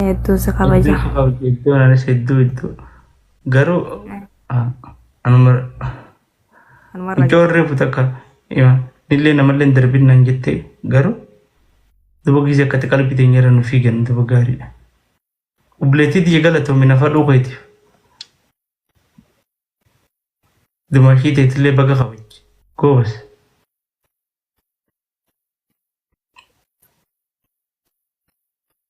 Hedduu si kabaja. Hedduu si kabajja iddoon anis hedduu hedduu. Garuu ah, anuma Anuma irra mucaa warree fuuta akka ima illee namallee hin darbin naan jettee garuu duba gize akkati qalbii teenya irra nu fiigan duba gaariidha. Obboleettii tiyya galatoomi nafa dhuukeetiif. Dumaashii teetillee baga kabajji. Goobas.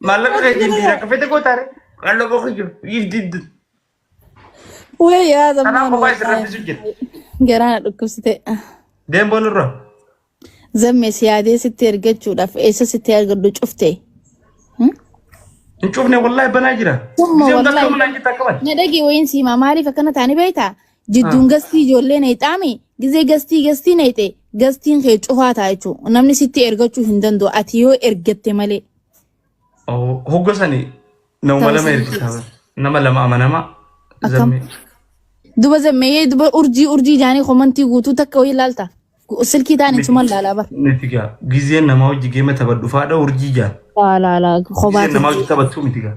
Maallaqa kee Maallaqa jibbiira. yaa. Kafete gootaare. Qalloo boqoyyoo. Iif diddu. Wee yaa Kanaa zammaan kophaa isin wallaahi. rabbisu jira. Garaana dhukkubsite. Deemboo nurra. Zammee si yaadee sitti ergachuudhaaf eessa sitti argadhu cufte. Hmm? Hin cufne wallaahi banaa jira. Summa Gisee hundaa wallaahi. qabna naan jetta qaban. Na dhagi wayiin siimaa maaliif akkana taani beektaa? Jidduun gastii ijoollee na hixaami. Gizee gastii gastii na hixee. Gastiin kee cufaa ta'a jechuudha. Namni sitti ergachuu hin danda'u. Ati yoo ergatte malee. Hogga sani nama lama ergisaa bara. Nama lama amanamaa. Akkam? Zammee. Duba zammee duba urjii urjii jaanii komantii guutuu takka wayii laalta. Silkii taaniin suman laalaa bara. Miti gaa. Gizeen namaa hojii geema taphadhu faadha urjii jaa. Laalaa laalaa Gizeen kophaati. namaa hojii taphattu miti gaa.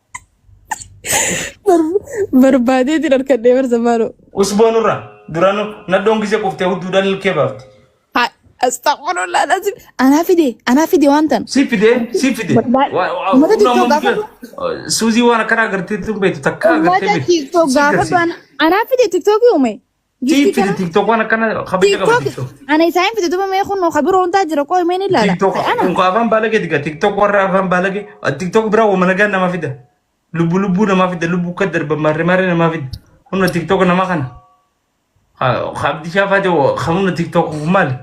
Barbaadeetiin harkadhee barsa maaloo. Usboo nurra duranu nadhoon gisee quftee hudduu dalil kee baafte. Astagfirullah lazim. Anaa fide anaa fide waan tan. Si fidee si fide. Wallahi. Waa- waa- Uummata humna TikTok mukkee- gaafadhu. Suuzii waan akkanaa agartee tun beektu takka agartee Uummata beektu. TikTok Si gaafadhu agarsiisa. ana- anaa fide TikTok uume. Giiftii kana Tiktokwan akkana kabajja qaba TikTok tiktok. ana isaa hin fide duba mee kun ka biroo hundaa jira qooy mee ni ilaala. Tiktok Ta'e ana unka afaan baalage diga tiktok warra afaan baalage tiktok biraa wama nagaa namaa fida. Lubbu lubbuu namaa fida lubbu akka darba maarre maarre namaa fida. Humna tiktok namaa kana. Abdishaa faate humna tiktok maali?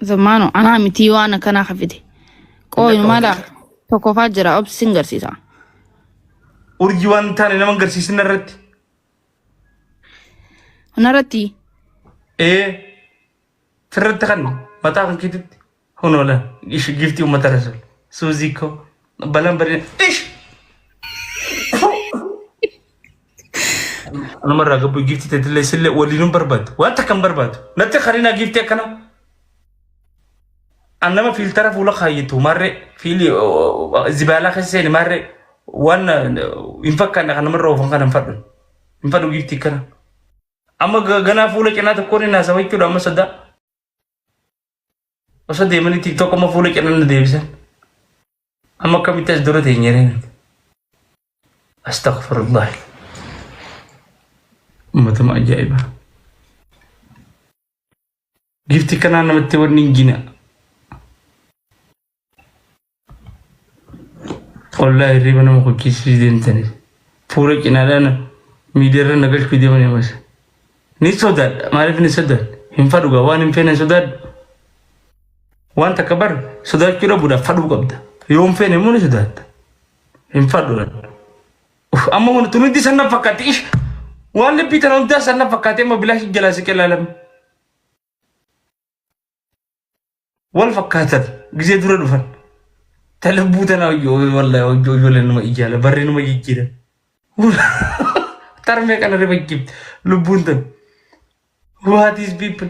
zammaanu anaa mitii waan akkanaa ka fide. Qooy Lakka mala hojii. tokkoffaa jira obsi sin garsiisa. Urjii waan hin taane nama hin garsiisin irratti. Hunarratti ee sirratti kan mataa kan keetitti hunoola ishi giiftii uummata rasuul suuzii koo balaan bareeda ish anumarraa gabbuu giiftii teetillee isillee waliinuu barbaadu waan takka hin barbaadu natti karinaa giiftii akkanaa An nama fiiltara fuula kaayyatu maarree fiili zibaalaa keessa seeni maarree waan hin fakkaanne kan namarra oofan kana hin fadhu. Hin fadhu giiftii kana. Amma ga- ganaa fuula cinaa tokkoon hin haasawa jechuudha amma sodaa. Osoo deemanii tiktok amma fuula cinaa na deebisan. Amma akkamitti as dura teenye reen. Astaghfirullah. Ummatuma ajaa'ibaa. Gifti kanaa namatti wanni hin gina. Ollaa hirriba nama hojjechiisuu deemtanii. Fuula cinaadhaan miidiyaarra na galchuu deeman ammas. Ni sodaadha. Maaliif ni sodaadha? Hin fadhugaa waan hin feene sodaadha. Waan takka bar sodaachuu dhabuudhaaf fadhuu qabda. Yoo hin feene immoo ni sodaadha. Hin fadhuudhaan. Uf, amma mana tun hundi sanna fakkaatti ish waan labbii tana hundaa sanna fakkaatti amma bilaash jalaa siqee laalam wal fakkaatan gizee dura dhufan ta labbuu tana wallahi hojii ijoolleen nama ijaala barree nama jijjiira tarmee kana riba jibbi lubbuun tan what is people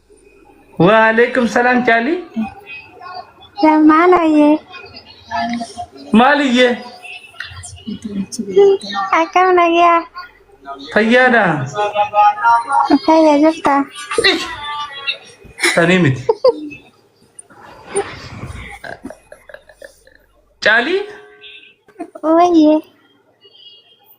Waalaikum salam Cali. Maalaye Maaliyye akkam nagaa fayyaadha. fayya jirta Sanii miti. Cali wayye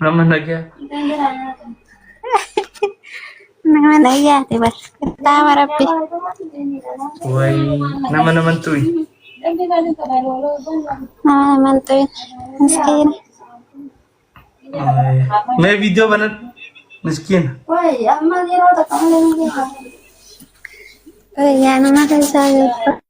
Nama nagaa. Nama nayyaate bar. Kitaaba rabbi. Wayii. Nama naman tuyi. Nama naman tuyin. Miskiina. Wayii. Mee viidiyoo banan. Miskiina. Guyyaa nama keessaa beeku.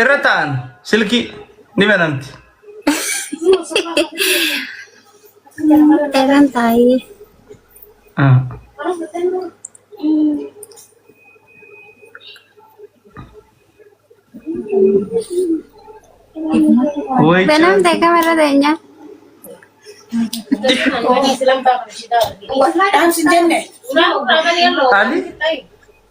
Irra taa'an silkii ni banamti. Eran taa'ee. Ah. Woy Banamte kamerra teenyaa. Dhaamsi jenne. Ali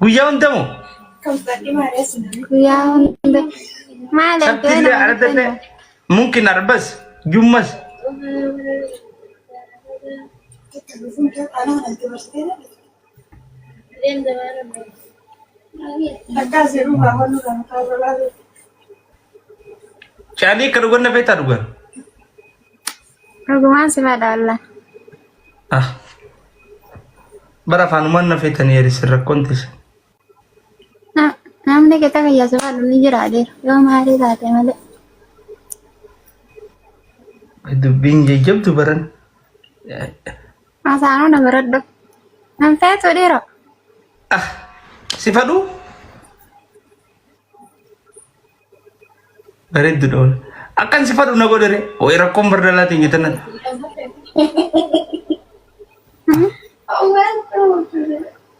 Guyyaa hunda moo? Guyyaa hunda. Maal Sabti ergaa illee nama arda illee kennu? mumkin arbas jummas. Caalii akka dhugan na feetaa dhugan. Dhugumaan si madaallan. Ah. Bara afaanumaan na feetanii erisin rakkoon teessan. Na- Namni qixa kiyya si madhu ni jira adeera. Yoo maalii taate malee. Dubbiin jajjabdu baran. Hasaanuu na baradhu. Nan feetu dhiira. Ah. Si fadhuu? Bareeddu dha wal. Akkan si fadhu na godhare. Way rakkoon bardalaa teenya tana.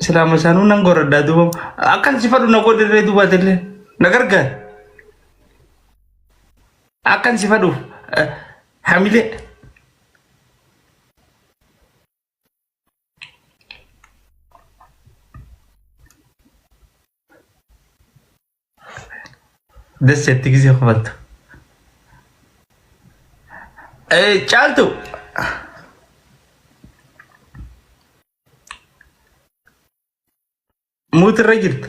Silaa masaanuu nan goradhaa duuba. Akkan si fadhu na godhare duuba atillee. Na gargaar. Akkan si fadhuuf. eh, Hamilee. Des jetti gisee kofaltu. Eh, Caaltu. Muutirra jirta.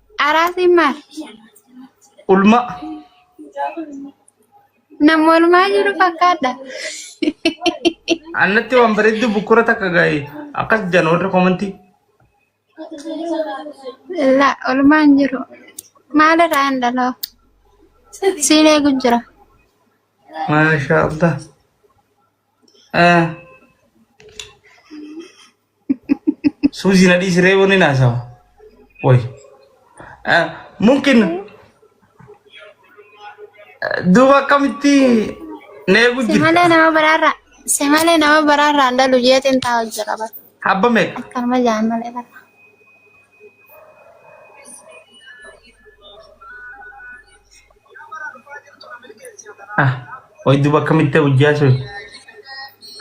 Araasiin maal? Ulmaa. Nama olmaa jiru fakkaadha. Annatti waan bareeddu bukkura takka ga'e akkas jedhan warri komantii. La olmaan jiru. Maalirraa hin dhaloo? Siin eegu jira. Maashaa Allah. Eh, Suuzi na dhiisiree wanni naasawa. Woy. Mumkin duuba akkamitti na eegu Si malee jirta. nama biraarraa si malee nama biraarraa hin dhalu jeetiin taa hojja qaba. Habba meeqa? Akkanuma jaan malee bara. Ah, hoy duba akkamitti hojii haasawee?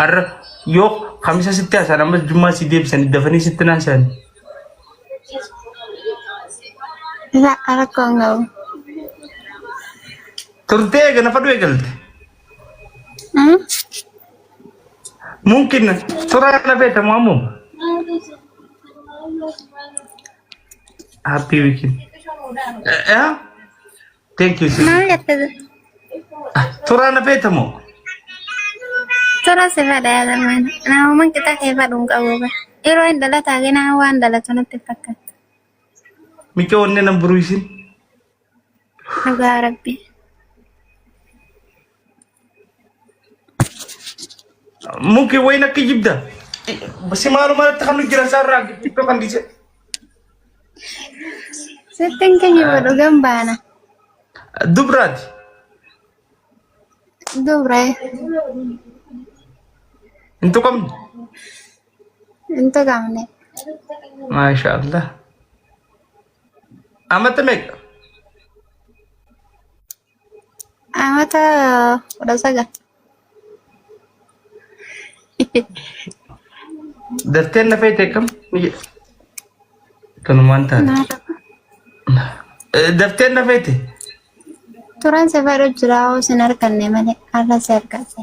Arra yoo kamisa sitti haasaan ammas jummaa si deebisan dafanii sitti haasaan. Isa rakkoon qabu. Turtee eega nafa du'e galte. Mungkin surah na beta mau mum. Happy weekend. Eh, eh? Thank you sis. Maal jette Surah na beta mau. tura si fedha yaadaman namoman qixa kee fadhuun qabu ba yeroo hin dhalataage nama waan dhalatu natti hin fakkaatu. Micha onne nan buruisin. Dhugaa rabbi. Muki wayin akka jibda. Si maaluma irratti kan nu jiran isaa irraa iddoo kan dhiise. Sittin kijiba dhugan baana. Dubraati. Dubre. Hin tuqamne. Hin tuqamne. Maasha Allah. Amata meeqa? Amata kudha sagal. Darteen na feete kam? Kanumaan taate. Darteen na feete. Turan si fedhu jira hoo sin arganne malee har'a si argadhe.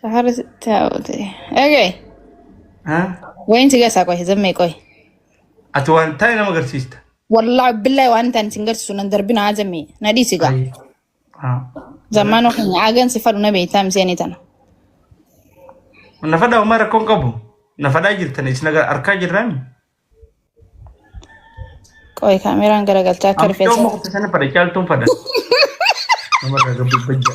Sahara taa'ute. Eegaye. Haa? Wayin si gasaa qoy zammee qoy. Ati waan taa'e nama agarsiista. Wallaahi billahi waan ta'an sin garsiisu nan darbina haa zammee. Na dhiisi gaa. Ayi. Haa. Zammaan ofiin aagan si fadhu na beektaa miseenii tana. Nafadhaa homaa rakkoon qabu. Nafadhaa jirtan isin agar- arkaa jirraami. Qoy kaameraan garagalchaa akka Amma rifeensa. yooma kutte sana fadha caaltuun fadha. Namarraa gabbibba jira.